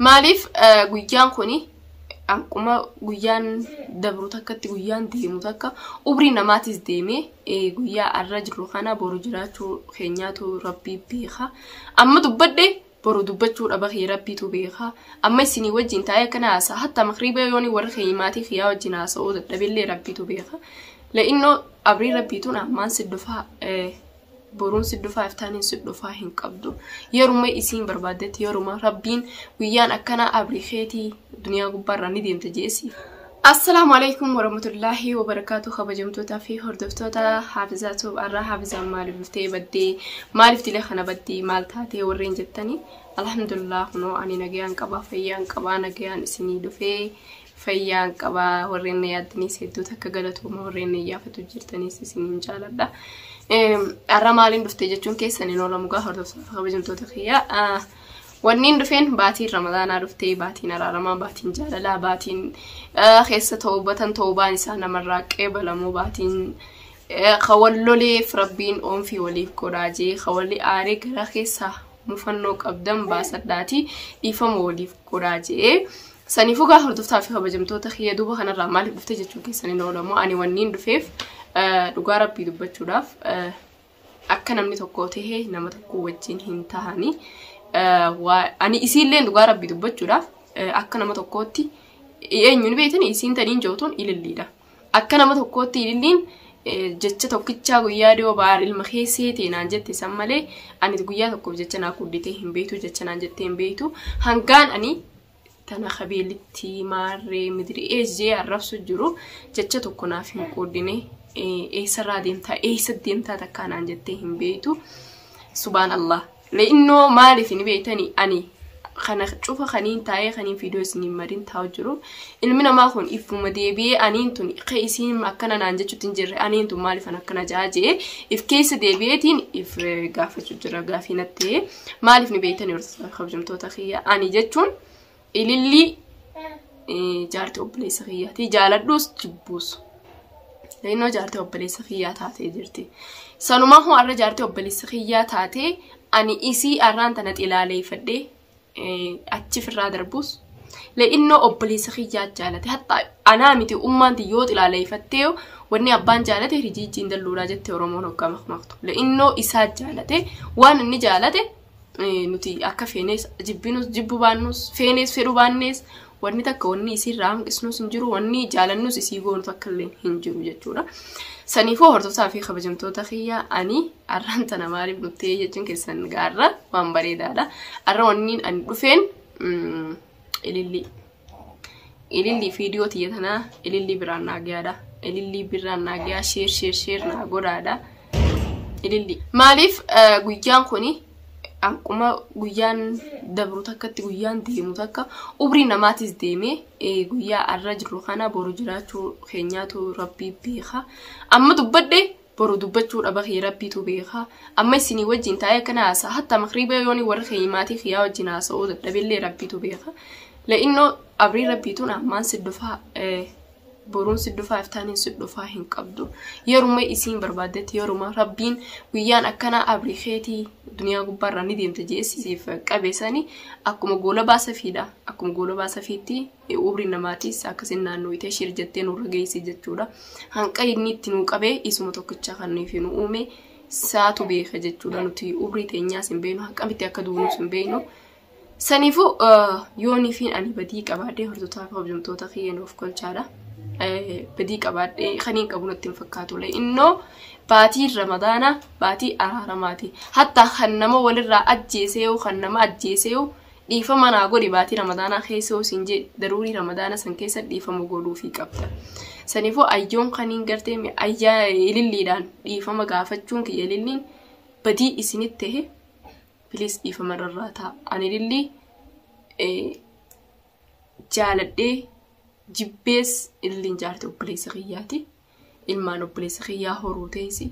Maaliif guyyaan kun akkuma guyyaan dabru takkatti guyyaan deemu takka umrii namaatis deemee guyyaa arra jirru kana boru jiraachuu keenyaatu rabbii beeka. Amma dubbadde boru dubbachuu dhaba kee rabbiitu beeka. Amma isinii wajjin taa'ee akkana haasa'a hatta makriibee yooni warra kee maatii kiyyaa wajjin haasa'uu dadhabillee rabbiitu beeka. La'innoo abrii rabbiituun ammaan si dhufaa boruun si dhufaa iftaaniin si dhufaa hin qabdu yeruma isiin barbaaddetti yeruma rabbiin guyyaan akkanaa abri keetii duniyaa gubbaarraa ni deemta jeesi Assalaamu alaikum warahmatullaahi wabarakaatu kabajamtootaa fi hordoftoota haafizaa tuub arraa haafizaan maaliif dhuftee baddee maaliif dilee kana baddii maal taatee warreen jettanii alhamdulillah kunoo ani nagayaan qabaa fayyaan qabaa nagayaan isinii dhufee fayyaan qaba warreen na yaaddaniis hedduu takka galatooma warreen na iyyaafatu jirtaniis isiniin jaaladha. Har'a maaliin dhufte jechuun keessan hin oolamu gaa hordoftoota kabajamtoota kiyya. Wanniin dhufeen baatiin ramadaanaa dhuftee baatiin araaramaa baatiin jaalalaa baatiin keessa toobatan toobaan isaa namarraa qeebalamoo baatiin kawalloleef rabbiin oomfii waliif godhaa jee kawalli aaree gara keessaa mufannoo qabdan baasadhaati dhiifama waliif godhaa jee. Saniifuu gaa hordoftaa fi kabajamtoota kiyya duuba kanarraa maaliif dhufte jechuun keessan hin oolamu. Ani wanniin dhufeef eh, dhugaa rabbii dubbachuudhaaf eh, akka namni tokko ta'e nama tokko wajjin hin tahani. Eh, waa- Ani isiillee dhugaa rabbii dubbachuudhaaf eh, akka nama tokkootti eenyuun beektan isiin taniin jootuun ililliidha. Akka nama tokkootti ililliin eh, jecha tokkichaa guyyaa dhiyoo baar ilma keessee ta'e naan jette san malee ani guyyaa tokkoof jecha naa kudditee hin beektu jecha naan jettee hin beektu hangaan ani tana kabeelitti maarree midiri eejjee arrabsu jiru jecha tokko naaf hin qoodine eessarraa deemtaa eessa deemtaa takkaa naan jettee hin beektu subaan allah le'innoo maaliif hin beektani ani kana cufa kaniin taa'ee kaniin fiidoo isiniin marin taa'u jiru ilmi namaa kun iffuma deebi'ee aniin tun ka isiin akkana naan jechuutti hin jirre aniin tun maaliif an akkana jaajee if keessa deebi'eetiin if gaafachuu jira gaafii nattee. maaliif ni beektani barsiisaa kabajamtoota kiyya ani jechuun ilillii eh, jaartii obboleessa kiyyaati jaaladhuus jibbuus innoo jaartii obboleessa kiyyaa taatee jirti sanumaa hoo arra jaartii obboleessa kiyyaa taatee ani isii arraan tana xilaaleeffadhee eh, achi firraa darbuus le'innoo obboleessa kiyyaa jaalate hattaa Anaa miti ummaan ti yoo xilaaleeyfattee wanni abbaan jaalate rijiijji hin dalluudhaa jette oromoon hoggaa makmaktu le'innoo isaa jaalate waan inni jaalate nuti akka feenees jibbinus jibbu baannus feenees fedhu baannees wanni takka wanni isiirraa hanqisnus hin jiru wanni jaalannus isii goonu takka illee hin jiru jechuudha. Saniifuu hordoftaa fi kabajamtoota kiyya ani arraan tana maaliif dhuftee jechuun keessan gaarra waan bareedaadha. Arra wanniin ani dhufeen ilillii. ililli fiidiyoo tiyya tanaa ililli biraan naa gayaadha ililli biraan naa gayaa sheer sheer sheer naa godhaadha ililli maaliif eh, guyyaan kuni akkuma guyyaan dabru takkatti guyyaan deemu takka umrii namaatis deemee eh, guyyaa arra jirru kana boru jiraachuu keenyaatu rabbii beeka amma dubbadhe boru dubbachuu dhaba kee rabbiitu beeka amma isinii wajjin taa'ee akkana haasa'a hatta makriiba yooni warra kee maatii kiyyaa wajjin haasa'uu dadhabillee rabbiitu beeka la'innoo abrii rabbiituun ammaan si dhufaa eh, boruun si dhufaa iftaaniin si dhufaa hin qabdu yeruma isiin barbaaddetti yeruma rabbiin guyyaan akkanaa abrii keetii duniyaa gubbaarraa ni deemta jeesisiif qabeessanii akkuma goolabaa safiidha akkuma goolabaa safiitti Umrii namaatis akka isin naannooytee shir jettee nurra geeyse jechuudha. Hanqa inni itti nuu qabe isuma tokkicha kan nuyi fi nu uume saatu beeka jechuudha. Nuti umrii teenyaas hin beeynu haqqamitti akka duunus hin beeynu. Saniifuu yoonii fi ani badii qabaadhee hordoftoota fi hojjumtoota kiyya nuuf kolchaadha. Badii qabaadhee kan hin qabu natti hin fakkaatulee. Innoo baatiin ramadaanaa baatii araaramaati. Hatta kan nama walirraa ajjeesee yoo kan nama ajjeesee yoo Dhiifama naa godhi baatii ramadaanaa keessa yoo siin jee daruurii ramadaana san keessa dhiifama godhuufii qabda. Saniifuu ayyoon kaniin gartee mi- ayyaa ililliidhaan dhiifama gaafachuun kiyya ililliin badii isinit tahe piliis dhiifama irraa ta'a. Ani ilillii eh, jaaladhee jibbees ililliin jaarti obboleessa kiyyaati. ilmaan obboleessa kiyyaa horuu teessi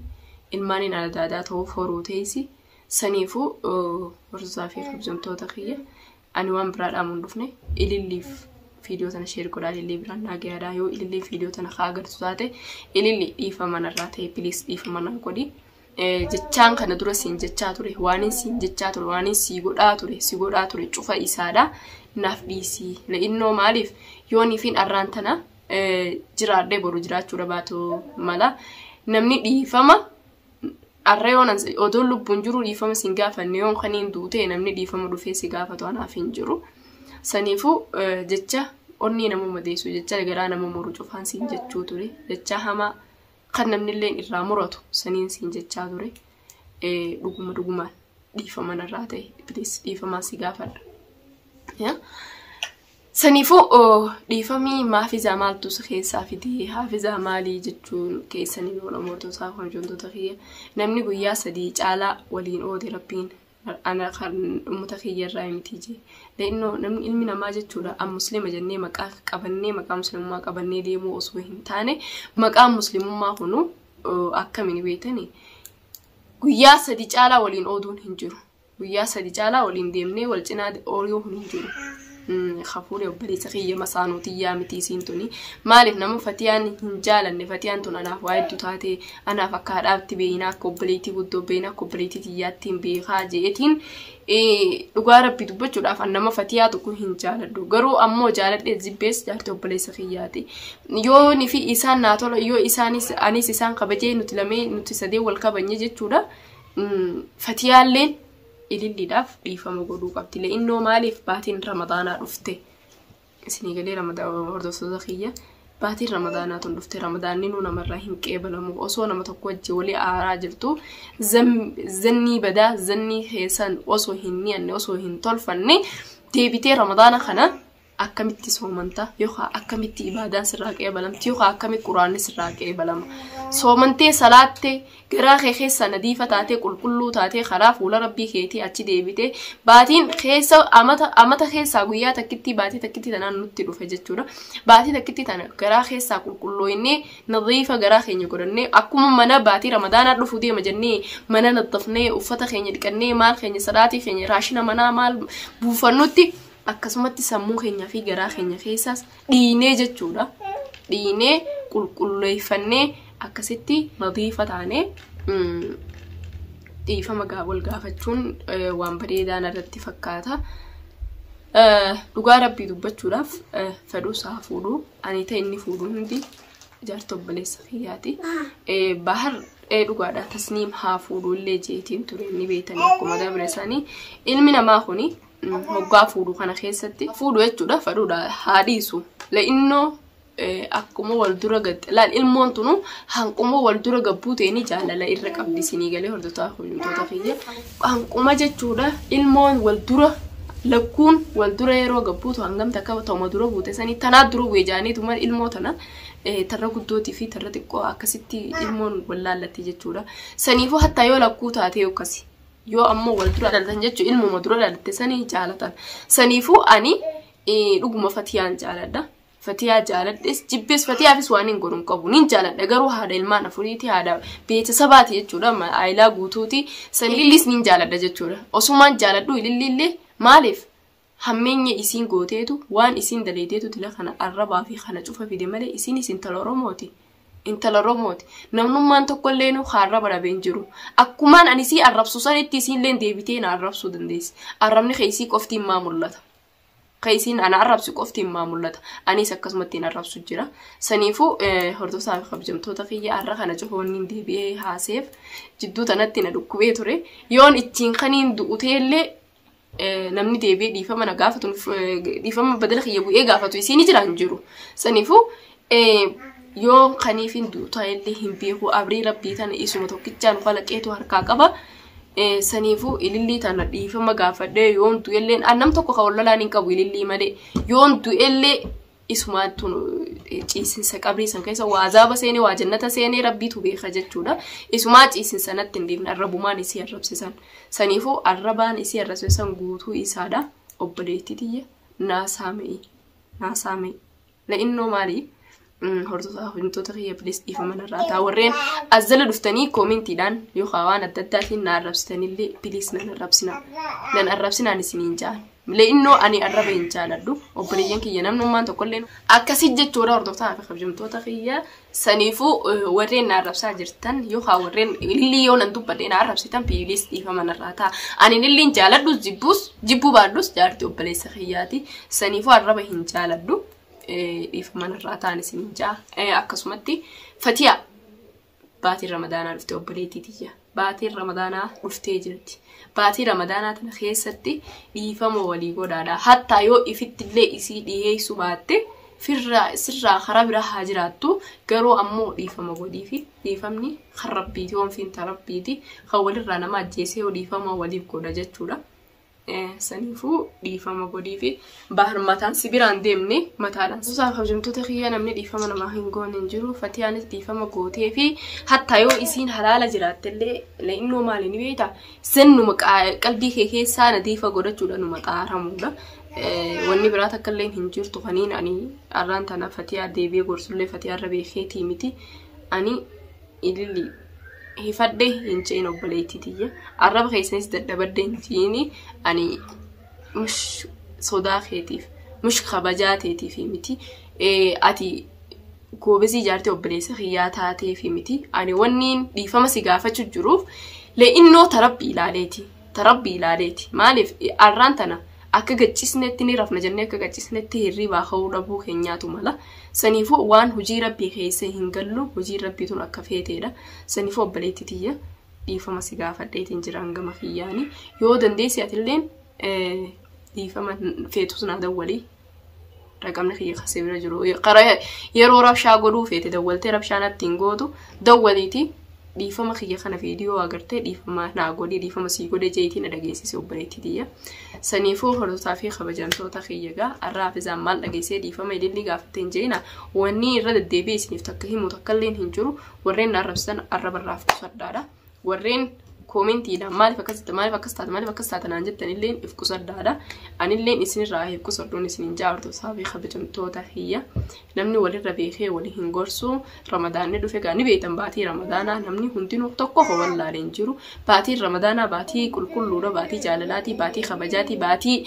ilmaaniin adaadaa ta'uuf horuu teessi saniifuu horsiisaa fi kabajamtoota kiyya ani waan biraa dhaamuun dhufne ililliif viidiyoo tana sheer godhaa ilillee biraan naa gayaadhaa yoo ilillee viidiyoo tana kaa agartu taate ililli dhiifama narraa ta'e piliis dhiifama naa godhi jechaan kana dura siin jechaa ture waanin siin jechaa ture waanin sii godhaa ture si godhaa ture cufa isaadha naaf dhiisii la'innoo maaliif yooniifiin arraan tana jiraadhee boru jiraachuu dhabaatu mala. Namni dhiifama har'a yoon odoo lubbuun jiru dhiifama sin gaafanne yoon kan hin duute namni dhiifama dhufee si gaafatu anaaf hin jiru. Saniifuu jecha onnee nama madeessu jecha garaa nama muru cufaan siin jechuu ture jecha hamaa kan namni illee irraa muratu saniin siin jechaa ture dhuguma dhugumaan dhiifama narraa ta'e please dhiifamaa si gaafadha. Saniifuu dhiifamii maafizaa maaltu si keessaa fidee haafizaa maalii jechuun keessaniin oromootota horjoontoota kiyya namni guyyaa sadii caalaa waliin oode rabbiin ana kan ummata kiyya irraa miti jee leennoo namni ilmi namaa jechuudha an muslima jennee maqaa qabannee maqaa muslimummaa qabannee deemuu osoo hin taane maqaan muslimummaa kunu akkamiin beektani guyyaa sadii caalaa waliin ooduun hin jiru guyyaa sadi caalaa waliin deemnee wal cinaa ooluu kun hin jiru. Hafuurri obboleessa kiyya masaanuu tiyyaa miti isiin tuni. Maaliif nama fatiyaan hin jaalanne fatiyaan tun anaaf waa hedduu taate anaaf akka haadhaatti beeyinaa akka obboleettii guddoo beeyinaa akka obboleettii tiyyaatti hin beekaa jeetiin dhugaa rabbi dubbachuudhaaf an nama fatiyaa tokko hin jaaladhu garuu ammoo jaaladhee zibbees jaartii obboleessa kiyyaati. Yoonii fi isaan naa tola yoo isaanis anis isaan kabajee nuti lamee nuti sadee wal kabanye jechuudha. fatiyaalleen ililliidhaaf dhiifama godhuu qabdi le'innoo maaliif baatiin ramadaanaa dhufte isinii galee hordoftoota kiyya baatiin ramadaanaa tun dhufte ramadaanni nuu namarraa hin qeebalamu osoo nama tokko wajji walii aaraa jirtu zannii badaa zannii keessan osoo hin ni'anne osoo hin tolfanne deebitee ramadaana kana akkamitti soomanta yookaan akkamitti ibaadaan sirraa qeebalamti yookaan akkamitti quraanni sirraa qeebalama soomantee salaattee garaa kee keessa nadiifa taatee qulqulluu taatee karaa fuula rabbii keetii achi deebite baatiin keessa amata amata keessaa guyyaa takkittii baatii takkittii tanaan nutti dhufe jechuudha baatii takkittii tana garaa keessaa qulqullooyinee nadiifa garaa keenya godhannee akkuma mana baatii ramadaanaa dhufu deema jennee mana naddafnee uffata keenya dhiqannee maal keenya salaatii keenya raashina manaa maal buufannutti akkasumatti sammuu keenyaa fi garaa keenya keessaas dhiinee jechuudha. Dhiinee qulqulleeffannee akkasitti nadiifa taane dhiifama wal gaafachuun waan bareedaa irratti fakkaata. Dhugaa rabbii dubbachuudhaaf fedhuu isaa fuudhu ani ta'e inni fuudhu hundi jaarta obboleessa kiyyaati. Bahar dhugaadha tasniim haa fuudhu illee jeetiin ture inni beektan akkuma dabre isaanii ilmi namaa kuni hoggaa fuudhu kana keessatti fuudhu jechuudha fadhuudha haa dhiisu la'innoo akkuma wal dura gatte laal ilmoon tunu hanquma wal dura gabbuu ta'e ni jaalala irra qabdi isinii galee hordotaa hojjetoota kiyya hanquma jechuudha ilmoon wal dura lakkuun wal dura yeroo gabbuutu hangam takka ta'uma dura buute sanii tanaa dura bu'e jaaniitu mal ilmoo tana tarra guddootii fi tarra xiqqoo akkasitti ilmoon wal laallatti jechuudha saniifuu hattaa yoo lakkuu taatee akkasi yoo ammoo wal dura dhalatan jechuun ilmuma dura dhalatte sanii jaalatan saniifuu ani dhuguma fatiyaan jaaladha fatiyaa jaaladhes jibbees fatiyaafis waan hin godhu qabu nin jaaladha garuu haadha ilmaan afuriiti haadha beeta sabaati jechuudha aayilaa guutuuti sanii ililliis nin jaaladha jechuudha osumaan jaaladhu ililliillee maaliif Hammeenya isiin gooteetu waan isiin dalaydeetu dila kana arrabaa fi kana cufa fide malee isiinis intala oromooti intala oromooti namnummaan tokkolleenu ka arraba dhabe hin jiru akkumaan ani isii arrabsu sanitti isiilleen deebitee na arrabsuu dandeessi arrabni ka isii qofti immaa mul'ata ka isiin ana arrabsi qofti immaa mul'ata anis akkasumatti hin arrabsu jira saniifuu hordofsaa fi kabjamtoota kiyya arra kana cufa wanni hin deebi'ee haaseef jidduu tanatti na dhukkubee ture yoon ittiin kaniin du'uteellee namni deebi'ee dhiifama na gaafatu dhiifama badala kiyya bu'ee gaafatu isiin jira hin jiru. Saniifuu yoo kaniif hin duutaa illee hin beeku abrii rabbii tana isuma tokkichaan kalaqeetu harkaa qaba. Saniifuu ilillii tana dhiifama gaafadhee yoon du'ellee an nam tokko kan wallalaan hin qabu ilillii malee yoon du'ellee isumaattu ciisinsa qabrii san keessa waa azaaba seenee waa jannata seenee rabbiitu beeka jechuudha. Isumaa ciisinsa natti hin deemne arrabumaan isii arrabsisan. Saniifuu arrabaan isii arrabsisan guutuu isaadha. Obboleettii tiyya naa saamee naa saamee la'innoo maalii hordofaa hojjettoota kiyya bilis dhiifama narraa ta'a warreen as jala dhuftanii koomentiidhaan yookaan waan adda addaatiin na arrabsitanillee bilis nan arrabsina nan arrabsinaan isiniin ja'an. Le'innoo ani arraba hin jaaladhu. Obboleeyyan kiyya namnummaan tokkollee akkasii jechuudha hordoftaa fi kabajamtoota kiyya saniifuu eh, warreen na arrabsaa jirtan yookaan warreen illii yoo nan dubbadhe na arrabsitan piiliis dhiifama narraa ta'a. Ani illiin jaaladhus jibbuus jibbuu baadhus jaarti obboleessa kiyyaati. Saniifuu arraba hin jaaladhu. Eh, Dhiifama narraa ta'an isin hin ja'a. Eh, Akkasumatti fatiyaa Baatiin ramadaanaa dhufte obboleettii tiyya. Baatiin ramadaanaa dhuftee jirti. Baatii ramadaanaa tana keessatti dhiifama walii godhaadha. Hattaa yoo ifittillee isii dhiyeessuu baatte firraa sirraa karaa biraa haa jiraattu garuu ammoo dhiifama godhiifi dhiifamni kan rabbiiti oomfiin ta rabbiiti kan walirraa nama ajjeesee yoo dhiifama waliif godha jechuudha. Saniifuu dhiifama godhiifi bahar mataan si biraan deemne mataadhaan suusaaf hojjamtoota kiyya namni dhiifama namaa hin goone hin jiru fatiyaanis dhiifama gootee fi hatta yoo isiin halaala jiraattellee la'innoo maali ni beekta sennuma qalbii kee keessaa nadiifa godhachuudha numa xaaramuudha. Wanni biraa takka illee hin jirtu kaniin ani arraan tana fatiyaa deebi'ee gorsullee fatiyaa irra beekeetii miti ani ilili hifadhe hin ce'in obboleettii tiyya arraba keessanis dadhabadde hin ce'in ani mush sodaa keetiif mush kabajaa teetiif miti ati goobezii ijaartee obboleessa kiyyaa taateef miti ani wanniin dhiifama si gaafachuu jiruuf le'innoo tarabbi ilaaleeti ta rabbi ilaaleeti maaliif arraan tana akka gachisnetti ni rafna jennee akka gachisnetti hirribaa ka'uu dhabuu keenyaatu mala saniifuu waan hojii rabbii keessa hin gallu hojiin rabbii tun akka feeteedha saniifuu obboleetti tiyya dhiifama si gaafadheetiin jiraan gama kiyyaani yoo dandeessi atilleen dhiifama feetus naa dawwalii raqamni kiyya kan sibira jiru karaa yeroo rabshaa godhuu feete dawwaltee rabshaa natti hin gootu dawwaliiti dhiifama kiyya kana viidiyoo agartee dhiifama naa godhi dhiifama sii godhe jeetii na dhageessise obboleettii tiyya saniifuu hordotaa fi kabajamtoota kiyya gaa arraa hafizaan maal dhageessee dhiifama ilillii gaafatteen jeena wanni irra deddeebi'e isiniif takka himu takka illeen hin jiru warreen na arrabsitan arrabarraaf qusadhaadha. warreen koomentiidhaan maaliif akkas jette maaliif akkas taate maaliif akkas taate naan jettan illeen if qusadhaadha anilleen isinirraa if qusadhuun isinin jaartu saafii kabajamtoota kiyya namni walirra beekee wali hin gorsu ramadaanni dhufe gaa ni beektan baatii ramadaanaa namni hundinuu tokko ho wallaalee hin jiru baatiin ramadaanaa baatii qulqulluudha baatii jaalalaatii baatii kabajaatii baatii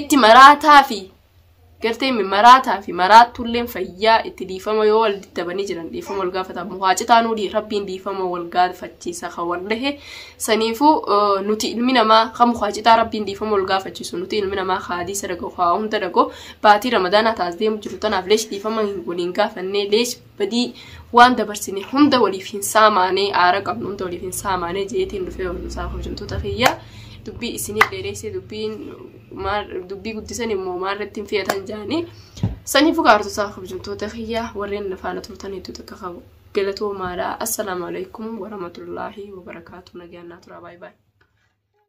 itti maraataa fi gartee maraataa fi maraattuulleen fayyaa itti dhiifama yoo wal dadhabanii jiran dhiifama wal gaafatan muhaa citaanuu dii rabbiin dhiifama wal gaafachiisa kan wal dhahe saniifuu eh, nuti ilmi namaa kan muhaa citaa rabbiin dhiifama wal gaafachiisu nuti ilmi namaa haadii sadaqa haa hunda dhagoo baatii ramadaanaa taas deemu jiru tanaaf leesh dhiifama hin kun hin gaafannee leesh badii waan dabarsine hunda waliif hin saamaanee aara qabnu hunda waliif hin saamaanee jeetiin dhufee barumsaa hojjamtoota kiyyaa dubbii isinii dheereessee dubbiin dubbii guddisan immoo maarratti hin fe'atan jaanii sanii fukaartotaa hojjamtoota kiyyaa warreen nafaana turtan hedduu takka qabu galatoomaadha assalaamu alaikum warahmatullaahi wabarakaatu nagaannaa turaa baay'ee baay'ee.